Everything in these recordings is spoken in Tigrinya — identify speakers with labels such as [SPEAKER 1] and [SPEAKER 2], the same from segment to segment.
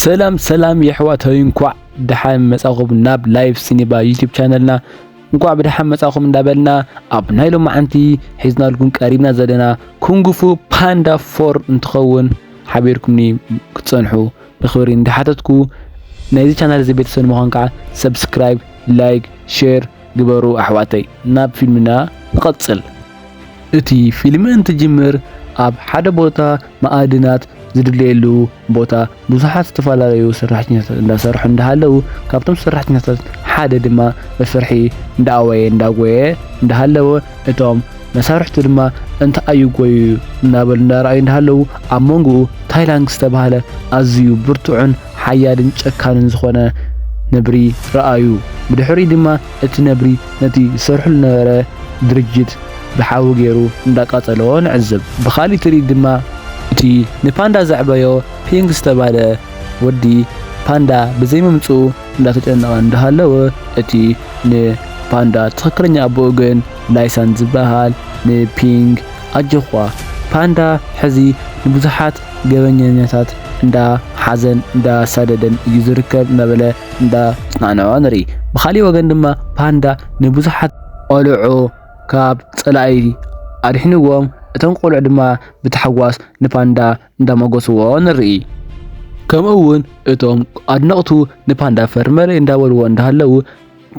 [SPEAKER 1] ሰላም ሰላም የሕዋተይ እንኳዕ ደሓን መጻኹም ናብ ላይፍ ሲኒባ ዩቲዩብ ቻነልና እንኳዕ ብደሓን መጻኹም እንዳበልና ኣብ ናይ ሎማዓንቲ ሒዝናልኩም ቀሪብና ዘለና ኩንግፉ ፓንዳ ፎር እንትኸውን ሓቢርኩምኒ ክትጸንሑ ብክብሪ እንዳሓተትኩ ናይዚ ቻናል እዚ ቤተሰብ ንምዃን ከዓ ሰብስክራይብ ላይክ ሼር ግበሩ ኣሕዋተይ ናብ ፊልምና ንቐጽል። እቲ ፊልም እንትጅምር ኣብ ሓደ ቦታ መኣድናት ዝድለየሉ ቦታ ብዙሓት ዝተፈላለዩ ሰራሕተኛታት እንዳሰርሑ እንዳሃለው ካብቶም ሰራሕተኛታት ሓደ ድማ መሰርሒ እንዳኣወየ እንዳጎየ እንዳሃለወ እቶም መሳርሕቱ ድማ እንተ ኣዩጎዩ እናበሉ እንዳረኣዩ እንዳሃለው ኣብ መንጎኡ ታይላንግ ዝተባህለ ኣዝዩ ብርቱዕን ሓያልን ጨካንን ዝኾነ ነብሪ ረኣዩ። ብድሕሪኡ ድማ እቲ ነብሪ ነቲ ዝሰርሕሉ ዝነበረ ድርጅት ብሓዊ ገይሩ እንዳቃጸሎ ንዕዘብ። ብኻሊእ ትርኢት ድማ እቲ ንፓንዳ ዘዕበዮ ፒንግ ዝተባህለ ወዲ ፓንዳ ብዘይምምጽኡ እንዳተጨነቐ እንዳሃለወ እቲ ንፓንዳ ትኽክለኛ ኣቦኡ ግን ላይሳን ዝበሃል ንፒንግ ኣጆዃ ፓንዳ ሕዚ ንብዙሓት ገበኘኛታት እንዳ ሓዘን እንዳ ኣሳደደን እዩ ዝርከብ እናበለ እንዳ ኣጽናንዖ ንርኢ። ብኻሊእ ወገን ድማ ፓንዳ ንብዙሓት ቆልዑ ካብ ጸላኢ ኣድሒንዎም እቶም ቆልዑ ድማ ብታሕጓስ ንፓንዳ እንዳሞጎስዎ ንርኢ። ከምኡ እውን እቶም ኣድነቕቱ ንፓንዳ ፈርመለይ እንዳበልዎ እንዳሃለዉ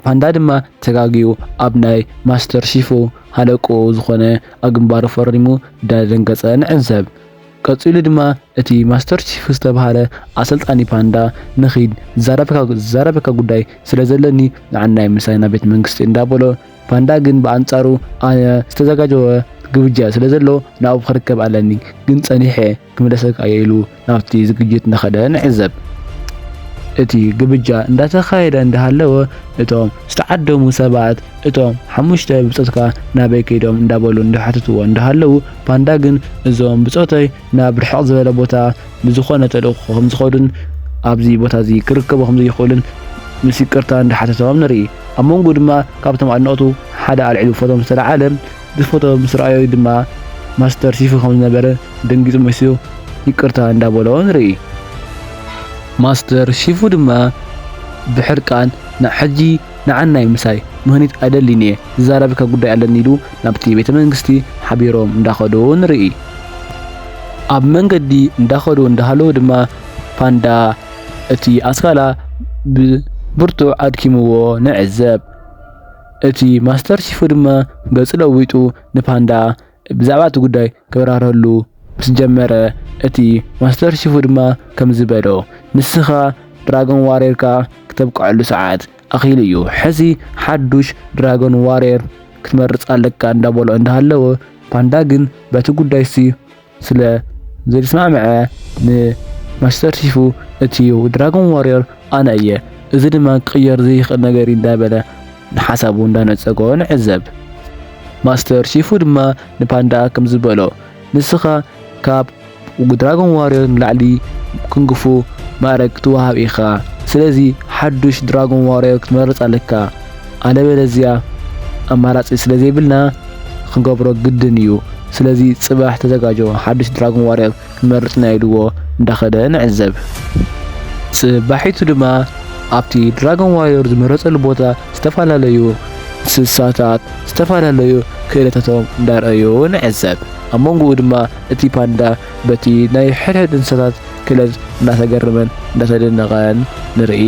[SPEAKER 1] ፓንዳ ድማ ተጋግዩ ኣብ ናይ ማስተር ሺፉ ሃለቁ ዝኾነ ኣብ ግንባሩ ፈሪሙ እንዳደንገጸ ንዕዘብ። ቀጺሉ ድማ እቲ ማስተር ቺፍ ዝተባህለ ኣሰልጣኒ ፓንዳ ንኺድ ዝዛረበካ ጉዳይ ስለ ዘለኒ ንዓናይ ምሳይ ናብ ቤት መንግስቲ እንዳበሎ ፓንዳ ግን ብኣንጻሩ ኣነ ዝተዘጋጀወ ግብጃ ስለ ዘሎ ናብኡ ክርከብ ኣለኒ ግን ጸኒሐ ክምለሰካ እየ ኢሉ ናብቲ ዝግጅት እንዳኸደ ንዕዘብ። እቲ ግብጃ እንዳተኻየደ እንዳሃለወ እቶም ዝተዓደሙ ሰባት እቶም ሓሙሽተ ብጾትካ ናበይ ከይዶም እንዳበሉ እንዳሓተትዎ እንዳሃለዉ ፓንዳ ግን እዞም ብጾተይ ናብ ርሕቕ ዝበለ ቦታ ብዝኾነ ተልእኾ ከምዝኸዱን ኣብዚ ቦታ እዚ ክርከቡ ከምዘይኽእሉን ምስ ይቅርታ እንዳሓተቶም ንርኢ። ኣብ መንጎ ድማ ካብቶም ኣድነቕቱ ሓደ ኣልዒሉ ፎቶ ምስ ተላዓለ እቲ ፎቶ ምስ ረኣዮ ድማ ማስተር ሲፉ ከምዝነበረ ደንጊጹ መሲሉ ይቅርታ እንዳበሎ ንርኢ። ማስተር ሲፉ ድማ ብሕርቃን ንሕጂ ንዓናይ ምሳይ ምህኒት ኣይደልይን'የ ዝዛረበካ ጉዳይ ኣለኒ ኢሉ ናብቲ ቤተ መንግስቲ ሓቢሮም እንዳኸዱ ንርኢ። ኣብ መንገዲ እንዳኸዱ እንዳሃለዉ ድማ ፓንዳ እቲ ኣስካላ ብብርቱዕ ኣድኪምዎ ንዕዘብ። እቲ ማስተር ቺፉ ድማ ገጹ ለዊጡ ንፓንዳ ብዛዕባ እቲ ጉዳይ ከብራርሀሉ ምስ ጀመረ፣ እቲ ማስተር ቺፉ ድማ ከምዚ በሎ፣ ንስኻ ድራጎን ዋርየርካ ክተብቅዐሉ ሰዓት ኣኺሉ እዩ። ሕዚ ሓዱሽ ድራጎን ዋርየር ክትመርጽ ኣለካ እንዳ በሎ እንዳ ሃለወ፣ ፓንዳ ግን በቲ ጉዳይ'ሲ ስለ ዘይተስማዕምዐ ንማስተር ቺፉ እቲ ድራጎን ዋርየር ኣነ እየ፣ እዚ ድማ ክቕየር ዘይክእል ነገር'ዩ እንዳ በለ፣ ንሓሳቡ እንዳነጸጎ ንዕዘብ። ማስተር ቺፉ ድማ ንፓንዳ ከምዚ በሎ፣ ንስኻ ካብ ድራጎን ዋርዮር ንላዕሊ ኩንግፉ ማእረግ ክትወሃብ ኢኻ፣ ስለዚ ሓዱሽ ድራጎን ዋርዮር ክትመርጽ ኣለካ፣ ኣለበለዝያ ኣማራጺ ስለዘይብልና ክንገብሮ ግድን እዩ፣ ስለዚ ጽባሕ ተዘጋጆ ሓዱሽ ድራጎን ዋርዮር ክመርጽ ናይ ኢልዎ እንዳኸደ ንዕዘብ። ጽባሒቱ ድማ ኣብቲ ድራጎን ዋርዮር ዝመረጸሉ ቦታ ዝተፈላለዩ እንስሳታት ዝተፈላለዩ ክእለታቶም እንዳርኣዩ ንዕዘብ። ኣብ መንጎኡ ድማ እቲ ፓንዳ በቲ ናይ ሕድሕድ እንስሳታት ክእለት እንዳተገረመን እንዳተደነቐን ንርኢ።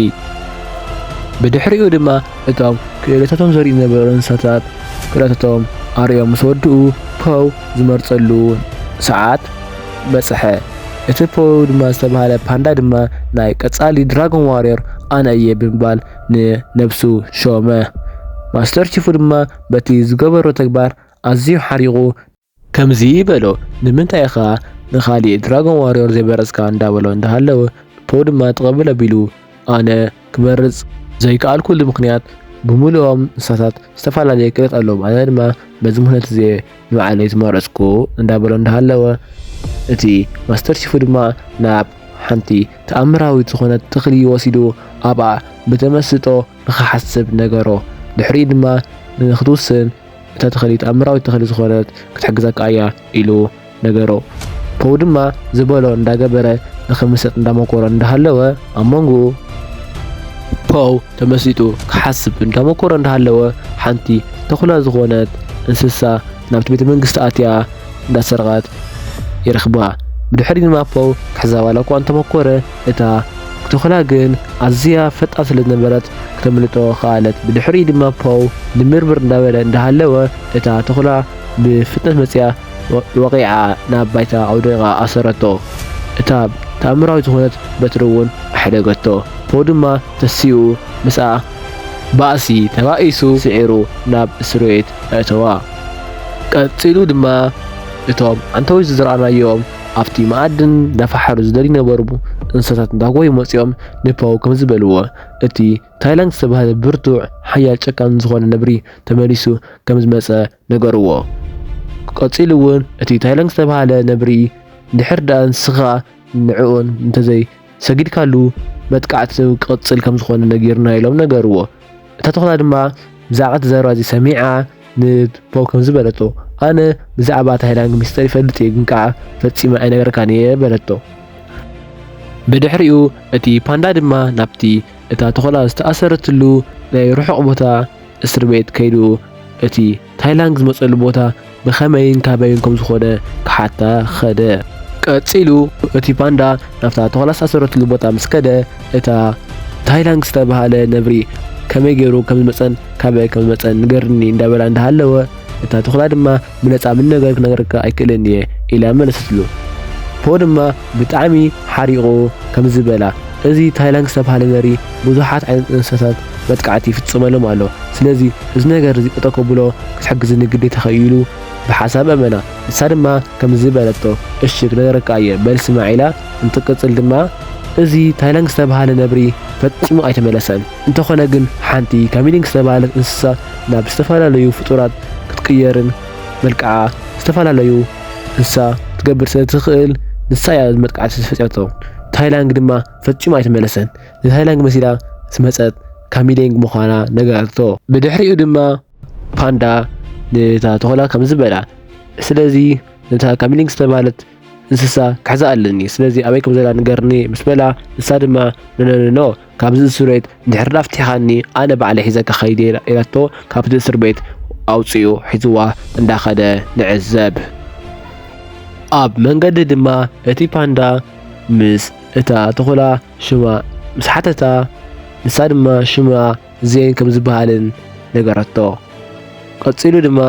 [SPEAKER 1] ብድሕሪኡ ድማ እቶም ክእለታቶም ዘርእዩ ዝነበሩ እንስሳታት ክእለታቶም ኣርእዮም ምስ ወድኡ ፖው ዝመርጸሉ ሰዓት በጽሐ። እቲ ፖው ድማ ዝተባህለ ፓንዳ ድማ ናይ ቀጻሊ ድራጎን ዋርዮር ኣነ እየ ብምባል ንነብሱ ሾመ። ማስተር ቺፉ ድማ በቲ ዝገበሮ ተግባር ኣዝዩ ሓሪቑ። ከምዚ በሎ፣ ንምንታይ ኢኻ ንኻሊእ ድራጎን ዋርዮር ዘይመረጽካ? እንዳበሎ እንዳሃለወ፣ ፖው ድማ ጠቐብል ኣቢሉ ኣነ ክመርጽ ዘይከኣልኩሉ ምኽንያት ብምሉኦም እንስሳታት ዝተፈላለየ ቅርጽ ኣለዎም። ኣነ ድማ በዚ ምኽንያት እዚ ንባዕለይ ዝመረጽኩ እንዳበሎ እንዳሃለወ እቲ ማስተር ቺፉ ድማ ናብ ሓንቲ ተኣምራዊት ዝኾነት ተኽሊ ወሲዱ ኣብኣ ብተመስጦ ንኽሓስብ ነገሮ። ድሕሪኡ ድማ ንኽትውስን እታ ተኽሊ ተኣምራዊት ተኽሊ ዝኾነት ክትሕግዘካ እያ ኢሉ ነገሮ። ፖው ድማ ዝበሎ እንዳገበረ ንኽምሰጥ እንዳመኮረ እንዳሃለወ ኣብ መንጎኡ ፖው ተመሲጡ ክሓስብ እንዳመኮረ እንዳሃለወ ሓንቲ ተኹላ ዝኾነት እንስሳ ናብቲ ቤተ መንግስቲ ኣትያ እንዳሰርቓት ይረኽባ። ብድሕሪ ድማ ፖው ክሕዛ ዋላ እኳ እንተመኮረ እታ ተኹላ ግን ኣዝያ ፈጣን ስለ ዝነበረት ክተምልጦ ከኣለት። ብድሕሪኡ ድማ ፖው ንምርምር እንዳበለ እንዳሃለወ እታ ተኹላ ብፍጥነት መጺኣ ወቒዓ ናብ ባይታ ኣውዲቓ ኣሰረቶ። እታ ተኣምራዊት ዝኾነት በትሪ እውን ኣሕደገቶ። ፖው ድማ ተሲኡ ምስኣ ባእሲ ተባኢሱ ስዒሩ ናብ እስርቤት ኣእተዋ። ቀጺሉ ድማ እቶም ኣንተውት ዝዘራእናዮም ኣብቲ መኣድን እንዳፈሓሩ ዝደልዩ ዝነበሩ እንስሳታት እንዳጎዩ መጺኦም ንፖው ከምዚ በልዎ፣ እቲ ታይላንግ ዝተባህለ ብርቱዕ፣ ሓያል፣ ጨካን ዝኾነ ነብሪ ተመሊሱ ከምዝመጸ ነገርዎ። ቀጺሉ እውን እቲ ታይለንግ ዝተብሃለ ነብሪ እንድሕር ድኣ ንስኻ ንዕኡን እንተዘይ ሰጊድካሉ መጥቃዕቲ ክቕጽል ከም ዝኾነ ነጊሩና ኢሎም ነገርዎ። እታ ተኹላ ድማ ብዛዕባ እቲ ዘረባ እዚ ሰሚዓ ንፖው ከምዚ በለቶ፣ ኣነ ብዛዕባ ታይላንግ ሚስጥር ይፈልጥ እየ ግን ከኣ ፈጺመ ኣይነግረካን እየ በለቶ። ብድሕሪኡ እቲ ፓንዳ ድማ ናብቲ እታ ተኹላ ዝተኣሰረትሉ ናይ ርሑቕ ቦታ እስርቤት ከይዱ እቲ ታይላንግ ዝመጸሉ ቦታ ብኸመይን ካበይን ከም ዝኾነ ክሓታ ኸደ። ቀጺሉ እቲ ፓንዳ ናብታ ተኹላ ዝታሰረትሉ ቦታ ምስ ከደ እታ ታይላንግ ዝተባህለ ነብሪ ከመይ ገይሩ ከም ዝመጸን ካበይ ከም ዝመጸን ንገርኒ እንዳበላ እንዳሃለወ እታ ተኹላ ድማ ብነጻ ምን ነገር ክነግረካ ኣይክእልን እየ ኢላ መለሰትሉ። ፖ ድማ ብጣዕሚ ሓሪቑ ከምዚ በላ እዚ ታይላንግ ዝተባህለ ዘርኢ ብዙሓት ዓይነት እንስሳታት መጥቃዕቲ ይፍጽመሎም ኣሎ። ስለዚ እዚ ነገር እዚ ጠጠው ከብሎ ክትሕግዝኒ ግዴታኺ እዩ ኢሉ ብሓሳብ ኣመና። ንሳ ድማ ከምዚ በለቶ እሺ ክነግረካ እየ በል ስማዕ ኢላ እንትቅጽል ድማ እዚ ታይላንግ ዝተባህለ ነብሪ ፈጺሙ ኣይተመለሰን። እንተኾነ ግን ሓንቲ ካሚሊንግ ዝተባህለት እንስሳ ናብ ዝተፈላለዩ ፍጡራት ክትቅየርን መልክዓ ዝተፈላለዩ እንስሳ ክትገብር ስለትኽእል ንሳ እያ መጥቃዕቲ ዝፈፀመቶ። ታይላንግ ድማ ፈፂሙ ኣይተመለሰን። ንታይላንግ መሲላ ዝመፀት ካሚሊንግ ምዃና ነገረቶ። ብድሕሪኡ ድማ ፓንዳ ነታ ተኾላ ከም ዝበላ ስለዚ ነታ ካሚሊንግ ዝተባህለት እንስሳ ክሕዛ ኣለኒ ስለዚ ኣበይ ከም ዘላ ንገርኒ ምስ በላ ንሳ ድማ ነነነኖ ካብዚ እስር ቤት እንድሕር ዳ ፍቲሕኻኒ ኣነ ባዕለ ሒዘካ ከይደ ኢላቶ ካብቲ እስር ቤት ኣውፂኡ ሒዝዋ እንዳኸደ ንዕዘብ ኣብ መንገዲ ድማ እቲ ፓንዳ ምስ እታ ተኾላ ሽማ ምስ ሓተታ ንሳ ድማ ሽማ እዚኤን ከም ዝበሃልን ነገረቶ። ቀጺሉ ድማ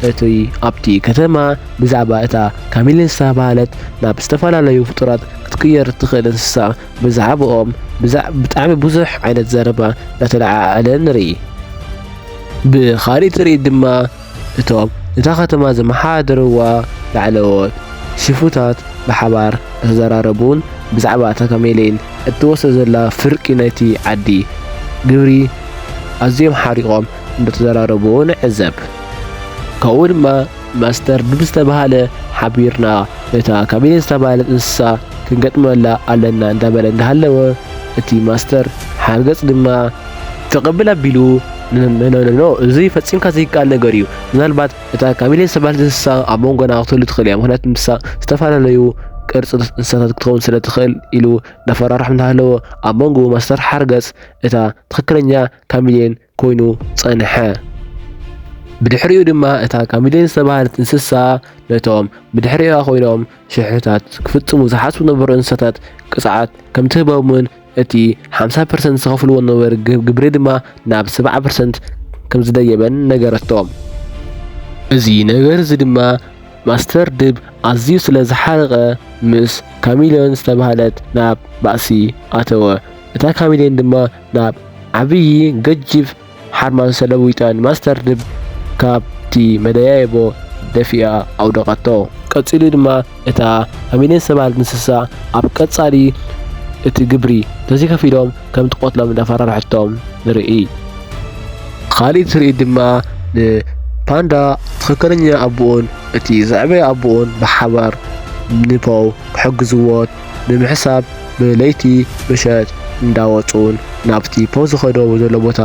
[SPEAKER 1] እቲ ኣብቲ ከተማ ብዛዕባ እታ ካሚሊን ዝተባህለት ናብ ዝተፈላለዩ ፍጡራት ክትቅየር እትኽእል እንስሳ ብዛዕብኦም ብጣዕሚ ብዙሕ ዓይነት ዘረባ እናተለዓዓለ ንርኢ። ብኻሊእ ትርኢት ድማ እቶም እታ ከተማ ዝመሓደርዋ ላዕለዎት ሽፍታት ብሓባር እናተዘራረቡን ብዛዕባ እታ ካሜሌን እትወስዶ ዘላ ፍርቂ ናይቲ ዓዲ ግብሪ ኣዝዮም ሓሪቖም እናተዘራረቡ ንዕዘብ። ካብኡ ድማ ማስተር ብዝተባህለ ሓቢርና ነታ ካሜሌን ዝተባህለት እንስሳ ክንገጥመላ ኣለና እንዳበለ እንዳሃለወ እቲ ማስተር ሓርገጽ ድማ ክቕብል ኣቢሉ ኖኖኖ እዚ ፈጺምካ ዘይከኣል ነገር እዩ ምናልባት እታ ካሚሌ ዝተባህለት እንስሳ ኣብ መንጎና ክትህሉ ትኽእል እያ ምክንያቱ ንሳ ዝተፈላለዩ ቅርፂ እንስሳታት ክትኸውን ስለ ትኽእል ኢሉ እናፈራርሖም እናሃለወ ኣብ መንጎ ማስተር ሓርገፅ እታ ትኽክለኛ ካሚሌን ኮይኑ ጸንሐ ብድሕሪኡ ድማ እታ ካሚሌን ዝተባህለት እንስሳ ነቶም ብድሕሪኣ ኮይኖም ሽሕታት ክፍጽሙ ዝሓስቡ ነበሩ እንስሳታት ቅፅዓት ከምትህበምን እቲ ሓምሳ ፐርሰንት ዝኸፍልዎ ዝነበሩ ግብሪ ድማ ናብ ሰብዓ ፐርሰንት ከምዝደየበን ነገረቶ። እዚ ነገር እዚ ድማ ማስተር ድብ ኣዝዩ ስለ ዝሓረቐ ምስ ካሚልዮን ዝተባህለት ናብ ባእሲ ኣተወ። እታ ካሚልዮን ድማ ናብ ዓብዪ ገጅፍ ሓርማዝ ሰለዊጠን ማስተር ድብ ካብቲ መደያይቦ ደፊኣ ኣውደቐቶ። ቀጺሉ ድማ እታ ፋሚልየን ሰባር እንስሳ ኣብ ቀጻሊ እቲ ግብሪ እንተዘይከፊሎም ከም ትቐትሎም እንዳፈራርሐቶም ንርኢ። ኻሊእ ትርኢት ድማ ንፓንዳ ትኽክለኛ ኣቡኡን እቲ ዝዕበየ ኣቡኡን ብሓባር ንፖው ክሕግዝዎ ብምሕሳብ ብለይቲ ምሸት እንዳወጹን ናብቲ ፖዝ ዝኸዶ ዘሎ ቦታ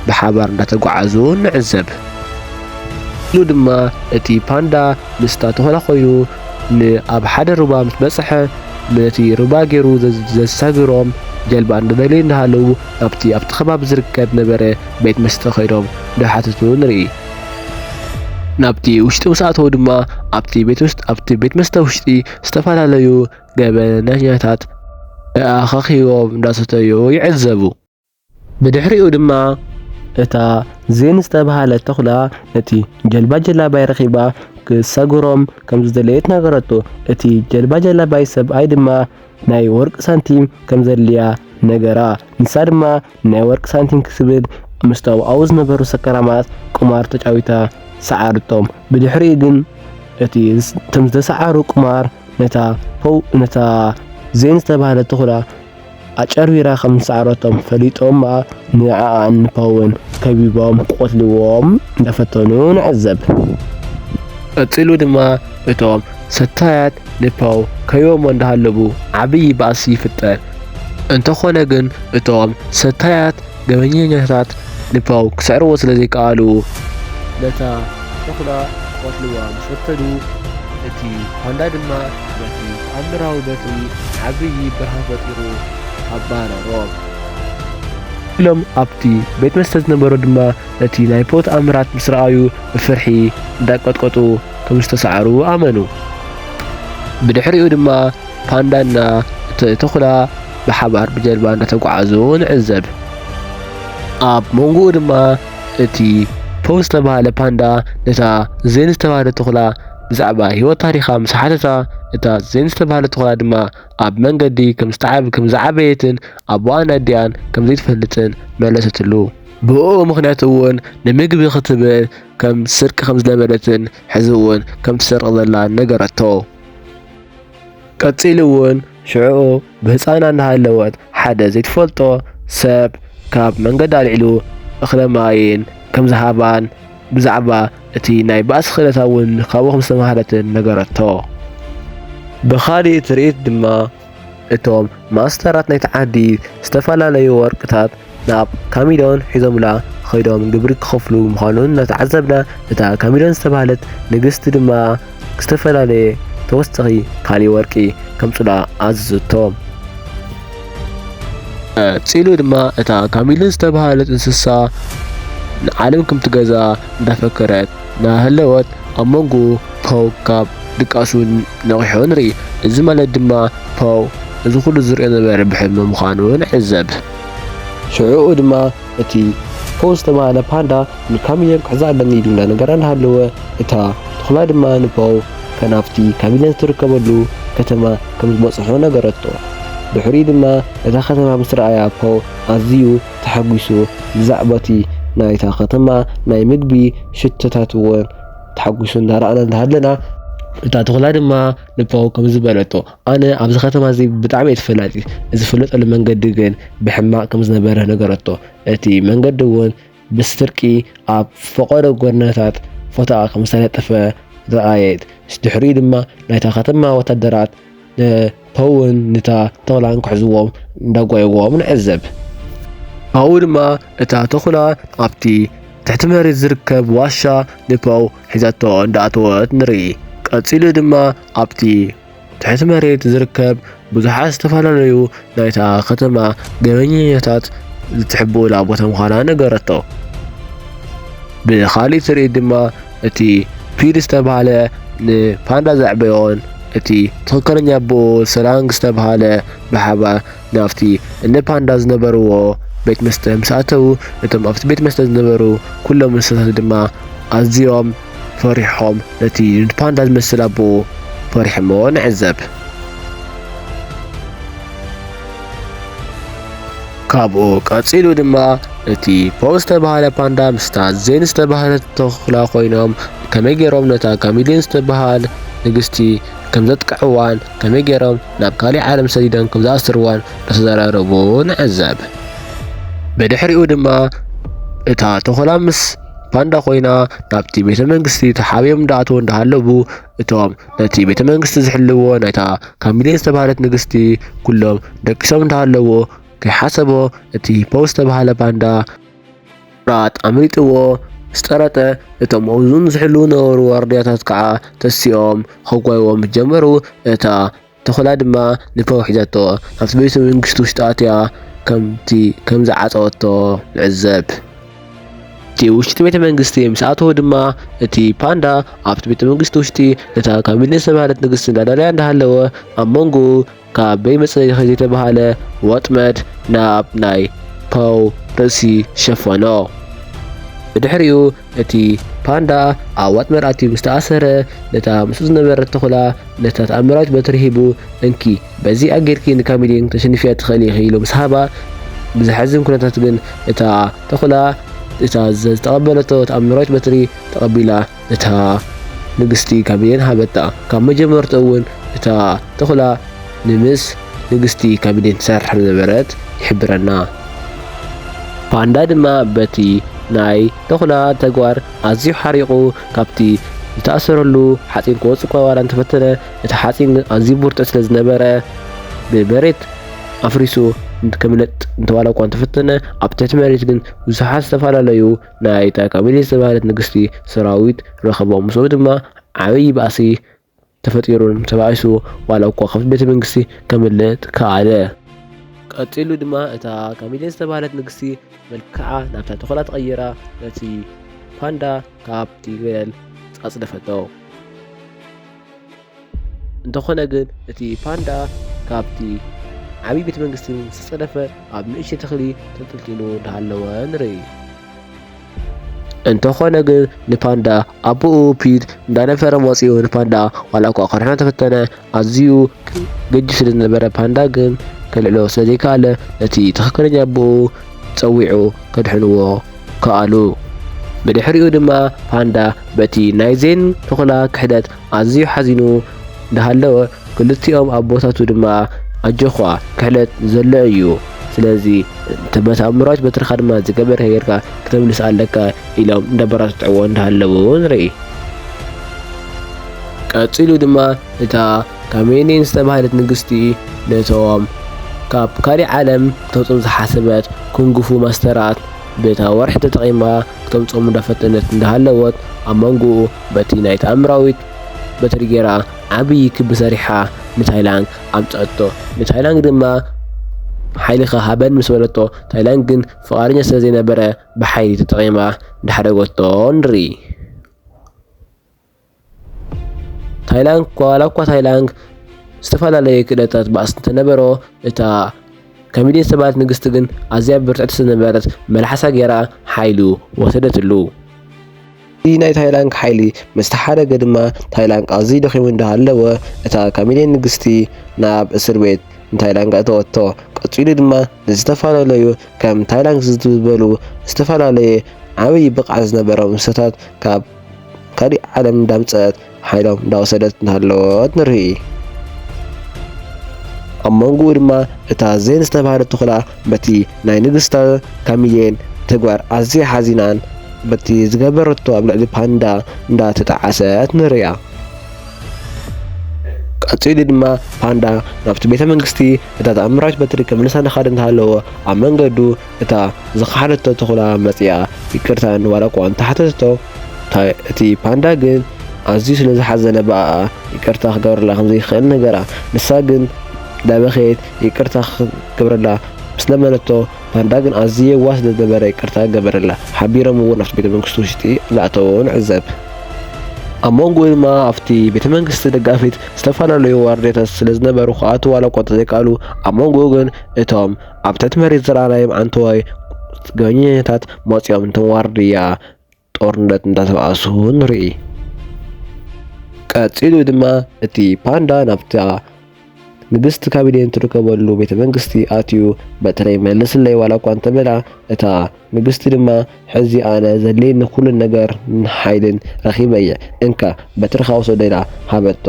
[SPEAKER 1] ብሓባር እንዳተጓዓዙ ንዕዘብ። ኢሉ ድማ እቲ ፓንዳ ምስታ ተኹላ ኮይኑ ን ኣብ ሓደ ሩባ ምስ በጽሐ ነቲ ሩባ ጌሩ ዘሳግሮም ጀልባ እንዳደለዩ እንዳሃለዉ ናብቲ ኣብቲ ከባቢ ዝርከብ ነበረ ቤት መስተ ከይዶም እንዳሓተቱ ንርኢ። ናብቲ ውሽጢ ምስ ኣተዉ ድማ ኣብቲ ቤት መስተ ውሽጢ ዝተፈላለዩ ገበነኛታት ተኣኻኺቦም እንዳሰተዩ ይዕዘቡ። ብድሕሪኡ ድማ እታ ዜን ዝተብሃለት ተኹላ ነቲ ጀልባ ጀላባይ ረኺባ ክትሰግሮም ከምዝደለየት ነገረቶ። እቲ ጀልባ ጀላባይ ሰብኣይ ድማ ናይ ወርቂ ሳንቲም ከምዘድልያ ነገራ። ንሳ ድማ ናይ ወርቂ ሳንቲም ክትብል ምስ ኣብኡ ዝነበሩ ሰካራማት ቁማር ተጫዊታ ሰዓረቶም። ብድሕሪኡ ግን እቲ እቶም ዝተሰዓሩ ቁማር ነታ ፖው ነታ ዜን ዝተባህለት ተኹላ ኣጨርቢራ ከም ዝሰዓረቶም ፈሊጦም ንዓኣን ንፖውን ከቢቦም ክቐትልዎም እንዳፈተኑ ንዕዘብ። ቀጺሉ ድማ እቶም ሰታያት ንፖው ከቢቦሞ እንዳሃለቡ ዓብዪ ባእሲ ይፍጠር። እንተኾነ ግን እቶም ሰታያት ገበኘኛታት ንፖው ክስዕርዎ ስለ ዘይከኣሉ ነታ ተኹላ ክቐትልዋ ምስ ፈተኑ እቲ ፓንዳ ድማ በቲ ተኣምራዊ በትሪ ዓብዪ ብርሃን ፈጢሩ ኣባረሮም። ኢሎም ኣብቲ ቤት መስተ ዝነበሩ ድማ ነቲ ናይ ፖው ተኣምራት ምስ ረኣዩ ብፍርሒ እንዳንቀጥቀጡ ከም ዝተሳዕሩ ኣመኑ። ብድሕሪኡ ድማ ፓንዳና እቲ ተኹላ ብሓባር ብጀልባ እናተጓዓዙ ንዕዘብ። ኣብ መንጎኡ ድማ እቲ ፖው ዝተባህለ ፓንዳ ነታ ዜን ዝተባህለ ተኹላ ብዛዕባ ህይወት ታሪኻ ምስ ሓተታ፣ እታ ዜን ዝተባህለ ተኹላ ድማ ኣብ መንገዲ ከም ዝዓበየትን ኣቦኣን ኣዲኣን ከም ዘይትፈልጥን መለሰትሉ። ብእኡ ምኽንያት እውን ንምግቢ ክትብል ከም ትስርቂ ከም ዝለመደትን ሕዚ እውን ከም ትሰርቕ ዘላን ነገረቶ። ቀጺሉ እውን ሽዕኡ ብህጻና እናሃለወት ሓደ ዘይትፈልጦ ሰብ ካብ መንገዲ ኣልዒሉ እኽለ ማይን ከም ዝሃባን ብዛዕባ እቲ ናይ ባእሲ ክእለታ እውን ካብኡ ከም ዝተማህረትን ነገረቶ። ብኻሊእ ትርኢት ድማ እቶም ማስተራት ናይቲ ዓዲ ዝተፈላለዩ ወርቅታት፣ ናብ ካሚዶን ሒዞምላ ኸይዶም ግብሪ ክኸፍሉ ምዃኑ እናተዓዘብና እታ ካሚዶን ዝተባህለት ንግስቲ ድማ ዝተፈላለየ ተወሰኺ ካሊእ ወርቂ ከምጹላ ኣዘዘቶም። ቀጺሉ ድማ እታ ካሚዶን ዝተባህለት እንስሳ ንዓለም ከምትገዛ እንዳፈከረት እናሃለወት ኣብ መንጎ ፖው ካብ ድቃሱ ነቒሑ ንርኢ። እዚ ማለት ድማ ፖው እዚ ኩሉ ዝርእዮ ዝነበረ ብሕልሚ ምዃኑ ንዕዘብ። ሽዑኡ ድማ እቲ ፖ ዝተባህለ ፓንዳ ንካሚለን ክሕዛ ኣለኒ ኢሉ እንዳነገራ እንዳሃለወ እታ ቱኹላ ድማ ንፖው ከናፍቲ ካሚለን ዝትርከበሉ ከተማ ከም ዝበጽሖ ነገረቶ። ድሕሪኡ ድማ እታ ከተማ ምስ ረኣያ ፖው ኣዝዩ ተሓጒሱ ብዛዕባቲ ናይታ ከተማ ናይ ምግቢ ሽቶታት'ውን ተሓጒሱ እንዳረኣና እንዳሃለና እታ ቱኹላ ድማ ንፖው ከምዚ በለቶ። ኣነ ኣብዚ ኸተማ እዚ ብጣዕሚ እየ ተፈላጢ፣ ዝፍለጠሉ መንገዲ ግን ብሕማቕ ከም ዝነበረ ነገረቶ። እቲ መንገዲ እውን ብስርቂ ኣብ ፈቐዶ ጎደናታት ፎቶኣ ከም ዝተለጠፈ ረኣየት። ድሕሪኡ ድማ ናይታ ኸተማ ወታደራት ንፖውን ንታ ተኹላን ክሕዝዎም እንዳጓየዎም ንዕዘብ። ኣብኡ ድማ እታ ተኹላ ኣብቲ ትሕቲ መሬት ዝርከብ ዋሻ ንፖው ሒዛቶ እንዳኣተወት ንርኢ። ቀጺሉ ድማ ኣብቲ ትሕቲ መሬት ዝርከብ ብዙሓት ዝተፈላለዩ ናይታ ከተማ ገበኛኛታት ዝትሕብኡላ ቦታ ምዃና ነገረቶ። ብኻሊእ ትርኢት ድማ እቲ ፒድ ዝተባህለ ንፓንዳ ዘዕበዮን እቲ ትኽክለኛ ኣቦኡ ሰላንግ ዝተባህለ ብሓባር ናብቲ እነ ፓንዳ ዝነበርዎ ቤት መስተ ምስ ኣተዉ እቶም ኣብቲ ቤት መስተ ዝነበሩ ኩሎም እንስሳታት ድማ ኣዝዮም ፈሪሖም ነቲ ንፓንዳ ዝመስል ኣቦኡ ፈሪሖሞ ንዕዘብ። ካብኡ ቀጺሉ ድማ እቲ ፖው ዝተባህለ ፓንዳ ምስታ ዜን ዝተባህለት ተኹላ ኮይኖም ከመይ ገይሮም ነታ ካሚሊን ዝተባሃል ንግስቲ ከም ዘጥቅዕዋን ከመይ ገይሮም ናብ ካሊእ ዓለም ሰዲዶም ከም ዝኣስርዋን እናተዘራረቡ ንዕዘብ። ብድሕሪኡ ድማ እታ ተኹላ ምስ ባንዳ ኮይና ናብቲ ቤተ መንግስቲ ተሓቢኦም እንዳኣተው እንዳሃለቡ እቶም ነቲ ቤተ መንግስቲ ዝሕልዎ ናይታ ካሚሌን ዝተባህለት ንግስቲ ኩሎም ደቂሶም እንዳሃለዎ ከይሓሰቦ እቲ ፖውስ ዝተባህለ ባንዳ ራት ኣምሊጥዎ ምስ
[SPEAKER 2] ጠረጠ እቶም ኣብኡን ዝሕልው ነበሩ ዋርድያታት ከዓ ተሲኦም ከጓይዎም ጀመሩ እታ ተኹላ ድማ ንፐው ሒዛቶ ኣብቲ ቤተ መንግስቲ ውሽጢ ኣትያ ከምቲ ከም ዝዓጸወቶ ንዕዘብ። እቲ ውሽጢ ቤተ መንግስቲ ምስ ኣተወ ድማ እቲ ፓንዳ ኣብቲ ቤተ መንግስቲ ውሽጢ ነታ ካሚለ ዝተባህለት ንግስቲ እንዳዳለያ እንዳሃለወ ኣብ መንጎኡ ካበይ መጸ ዘይተባህለ ወጥመድ ናብ ናይ ፓው ርእሲ ሸፈኖ። ብድሕሪኡ እቲ ፓንዳ ኣብ ዋጥመር ኣትዩ ምስ ተኣሰረ፣ ነታ ምስኡ ዝነበረት ተኹላ ነታ ተኣምራዊት በትሪ ሂቡ፣ እንኪ በዚ ኣጌርኪ ንካሚሊን ክተሽንፍያ ትኽእሊ ኢኺ ኢሉ ምስ ሃባ፣ ብዘሕዝን ኩነታት ግን እታ ተኹላ እታ ዝተቐበለቶ ተኣምራዊት በትሪ ተቐቢላ ነታ ንግስቲ ካሚሊን ሃበታ። ካብ መጀመርትኡ እውን እታ ተኹላ ንምስ ንግስቲ ካቢኔ ትሰርሕ ከም ዝነበረት ይሕብረና። ፓንዳ ድማ በቲ ናይ ተኹላ ተግባር ኣዝዩ ሓሪቑ ካብቲ ዝተኣሰረሉ ሓጺን ክወጽእ እኳ ዋላ እንተፈተነ እቲ ሓጺን ግን ኣዝዩ ብርቱዕ ስለ ዝነበረ ብመሬት ኣፍሪሱ ከምለጥ እንተዋላ እኳ እንተፈተነ ኣብ ትሕቲ መሬት ግን ብዙሓት ዝተፈላለዩ ናይታ ካቢኔ ዝተባህለት ንግስቲ ሰራዊት ረኸቦም። ምስኡ ድማ ዓብዪ ባእሲ ተፈጢሩን ተባኢሱ ዋላ እኳ ካብቲ ቤተ መንግስቲ ከምልጥ ከኣለ። ቀጺሉ ድማ እታ ካሚሌ ዝተባህለት ንግስቲ መልክዓ ናብታ ተኹላ ተቐይራ ነቲ ፓንዳ ካብቲ ገደል ኣጽደፈቶ። እንተኾነ ግን እቲ ፓንዳ ካብቲ ዓብዪ ቤተ መንግስቲ ዝተጸደፈ ኣብ ንእሽተይ ተኽሊ ተንጠልጢሉ እንዳሃለወ ንርኢ። እንተኾነ ግን ንፓንዳ ኣቦኡ ፒት እንዳነፈረ መፂኡ ንፓንዳ ዋላ እኳ ክርሕኖ ተፈተነ ኣዝዩ ገጅፍ ስለ ዝነበረ ፓንዳ ግን ከልዕሎ ስለ ዘይከኣለ ነቲ ትኽክለኛ ኣቦኡ ፀዊዑ ከድሕንዎ ከኣሉ። ብድሕሪኡ ድማ ፓንዳ በቲ ናይ ዜን ተኹላ ክሕደት ኣዝዩ ሓዚኑ ዳሃለወ ክልቲኦም ኣቦታቱ ድማ ኣጆዃ ክሕደት ዘሎ እዩ ስለዚ እቲ በቲ ኣእምሮኣዊት በትርኻ ድማ ዝገበርከ ጌርካ ክተምልስ ኣለካ ኢሎም እንዳበራትዕዎ እንዳሃለዉ ንርኢ። ቀጺሉ ድማ እታ ካሜሊን ዝተባህለት ንግስቲ ነቶም ካብ ካሊእ ዓለም ክተውጽም ዝሓሰበት ኩንግፉ ማስተራት በታ ወርሒ ተጠቒማ ክተምጽኦም እንዳፈተነት እንዳሃለወት ኣብ መንጎኡ በቲ ናይ ተኣምራዊት በትሪ ጌራ ዓብዪ ክቢ ሰሪሓ ንታይላንግ ኣምጽኣቶ። ንታይላንግ ድማ ሓይልኻ ሃበን ምስ በለቶ፣ ታይላንግ ግን ፍቓደኛ ስለ ዘይነበረ ብሓይሊ ተጠቒማ እንዳሕደገቶ ንርኢ። ታይላንግ ዋላ እኳ ታይላንግ ዝተፈላለየ ክእለታት ባእሲ እንተነበሮ እታ ከሚድየት ሰባልት ንግስቲ ግን ኣዝያ ብርትዕቲ ስለዝነበረት መልሓሳ ጌራ ሓይሉ ወሰደትሉ። እቲ ናይ ታይላንክ ሓይሊ ምስ ተሓረገ ድማ ታይላንክ ኣዝዩ ደኺሙ እንዳሃለወ እታ ካሚድየን ንግስቲ ናብ እስር ቤት ንታይላንክ ኣእተወቶ። ቀጺሉ ድማ ንዝተፈላለዩ ከም ታይላንክ ዝበሉ ዝተፈላለየ ዓብዪ ብቕዓት ዝነበሮም እንስሳታት ካብ ካሊእ ዓለም እንዳምጸኣት ሓይሎም እንዳወሰደት እናሃለወት ንርኢ። ኣብ መንጎኡ ድማ እታ ዜን ዝተባህለት ተኹላ በቲ ናይ ንግስታ ካሚሌን ተግባር ኣዝያ ሓዚናን በቲ ዝገበረቶ ኣብ ልዕሊ ፓንዳ እንዳተጣዓሰት ንሪኣ። ቀጺሉ ድማ ፓንዳ ናብቲ ቤተ መንግስቲ እታ ተኣምራዊት በትሪ ከምልሳ እናኻደ እንተሃለወ ኣብ መንገዱ እታ ዝኸሓደቶ ተኹላ መጺኣ ይቅርታ ዋላ'ኳ እንተሓተተቶ፣ እቲ ፓንዳ ግን ኣዝዩ ስለ ዝሓዘነ ብኣኣ ይቅርታ ክገብረላ ከም ዘይክእል ነገራ። ንሳ ግን እንዳበኸየት ይቅርታ ክትገብረላ ምስ ለመነቶ፣ ፓንዳ ግን ኣዝዩ የዋህ ስለ ዝነበረ ይቅርታ ገበረላ። ሓቢሮም እውን ኣብቲ ቤተ መንግስቲ ውሽጢ እንዳኣተወ ንዕዘብ። ኣብ መንጎኡ ድማ ኣብቲ ቤተ መንግስቲ ደጋፊት ዝተፈላለዩ ዋርድያታት ስለ ዝነበሩ ክኣትዉ ዋላ'ኳ እንተዘይከኣሉ፣ ኣብ መንጎኡ ግን እቶም ኣብ ትሕቲ መሬት ዘረኣናዮም ኣንተዋይ ገበኛኛታት መፂኦም እንቶም ዋርድያ ጦርነት እንዳተባእሱ ንርኢ። ቀፂሉ ድማ እቲ ፓንዳ ናብታ ንግስቲ ካቢኔን ትርከበሉ ቤተ መንግስቲ ኣትዩ በትረይ መልስለይ ዋላ እኳ እንተበላ እታ ንግስቲ ድማ ሕዚ ኣነ ዘድልየኒ ኩሉ ነገርን ሓይልን ረኺበ እየ፣ እንካ በትርኻ ውሰዶ ኢላ ሃበቶ።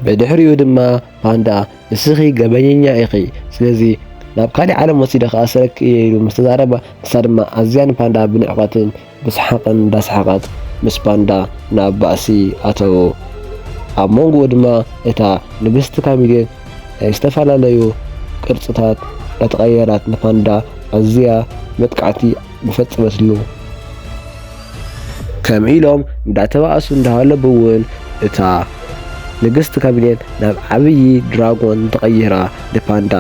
[SPEAKER 2] ብድሕሪኡ ድማ ፓንዳ ንስኺ ገበኘኛ ኢኺ፣ ስለዚ ናብ ካልእ ዓለም ወሲደ ክኣስረኪ እየ ኢሉ ምስ ተዛረባ፣ ንሳ ድማ ኣዝያ ንፓንዳ ብንዕቀትን ብሰሓቕን እንዳሰሓቐት ምስ ባንዳ ናብ ባእሲ ኣተዉ። ኣብ መንጎኡ ድማ እታ ንግስቲ ካሚሊን ናይ ዝተፈላለዩ ቅርጽታት እንዳተቐየራት ንፓንዳ ኣዝያ መጥቃዕቲ ምፈጸመትሉ። ከም ኢሎም እንዳተባእሱ እንዳሃለቡ እውን እታ ንግስቲ ካሚሊን ናብ ዓብዪ ድራጎን ተቐይራ ንፓንዳ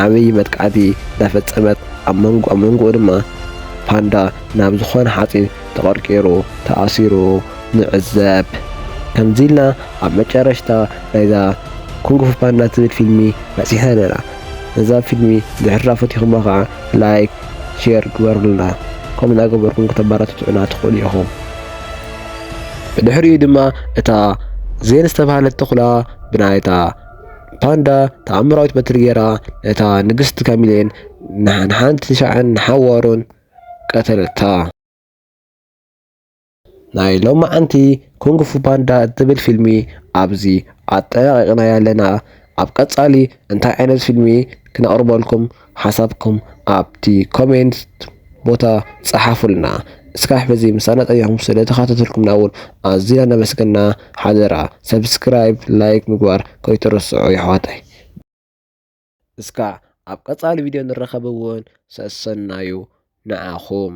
[SPEAKER 2] ዓብዪ መጥቃዕቲ እንዳፈጸመት ኣብ መንጎ ኣብ መንጎኡ ድማ ፓንዳ ናብ ዝኾነ ሓጺን ተቐርቂሩ ተኣሲሩ ንዕዘብ። ከምዚ ኢልና ኣብ መጨረሽታ ናይዛ ኩንግፉ ፓንዳ ትብል ፊልሚ በጺሕና ኣለና። ነዛ ፊልሚ ድሕሪ ዳፈቲኹማ ከኣ ላይክ ሼር ግበሩልና። ከምኡ እናገበርኩም ከተበራትቱዑና ትኽእሉ ኢኹም። ብድሕሪኡ ድማ እታ ዜን ዝተባህለት ተኹላ ብናይታ ፓንዳ ተኣምራዊት በትሪ ጌራ ነታ ንግስቲ ካሚሌን ንሓንቲ ሻዕን ንሓዋሩን ቀተለታ። ናይ ሎማዓንቲ ኩንግ ፉ ፓንዳ እትብል ፊልሚ ኣብዚ ኣጠናቂቅናያ ኣለና ኣብ ቀጻሊ እንታይ ዓይነት ፊልሚ ክነቅርበልኩም ሓሳብኩም ኣብቲ ኮሜንት ቦታ ጸሓፉልና እስካዕ በዚ ምሳና ጸኒሕኩም ስለ ተኻታተልኩምና እውን ኣዚና እናመስገና ሓደራ ሰብስክራይብ ላይክ ምግባር ከይትርስዑ የሕዋተይ። እስካዕ ኣብ ቀፃሊ ቪድዮ ንራከብ እውን ሰሰናዩ ንዓኩም።